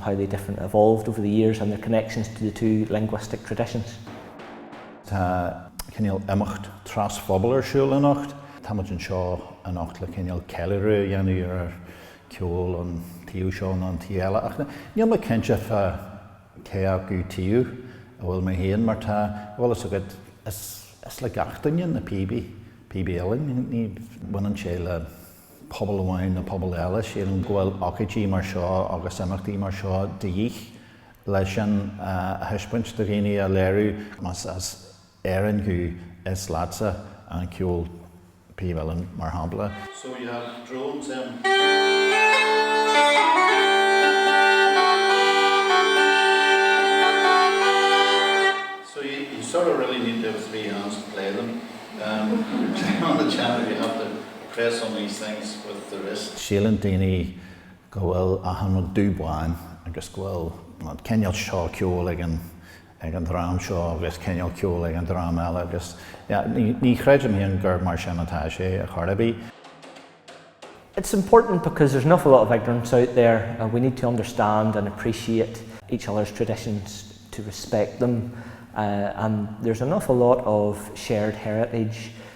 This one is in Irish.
how the different evolved over the years and their connections to the two linguistic traditions. Tá cineál imeacht trasphobail ar siúl anocht. Táimid anseo anocht le cineál ceiliúradh a dhéanamh ar cheol an taobh seo nó an taobh eile ach níl mé cinnte fá cé acu taobh a bhfuil mé féin mar tá, tá a fhios agat is le gach duine na píobaí, píobaí uilleann, ní bhaineann sé le. pobal amháin nó pobal eile. Sílim go bhfuil ócáidí mar seo agus imeachtaí mar seo de dhíth le sin a thaispeáint do dhaoine, a léiriú. Más as Éirinn thú, is leatsa an ceol, píobaí uilleann mar shampla. So we have drones in. Play some of these things with the rest. Síleann daoine go bhfuil achan rud dubh bán agus go bhfuil an cineál seo ceoil ag an ag an dream seo agus cineál ceoil ag an dream eile agus ní chreidim féin gur mar sin atá sé ar chor ar bith. It's important because there's an awful lot of ignorance out there and we need to understand and appreciate each other's traditions, to respect them and there's an awful lot of shared heritage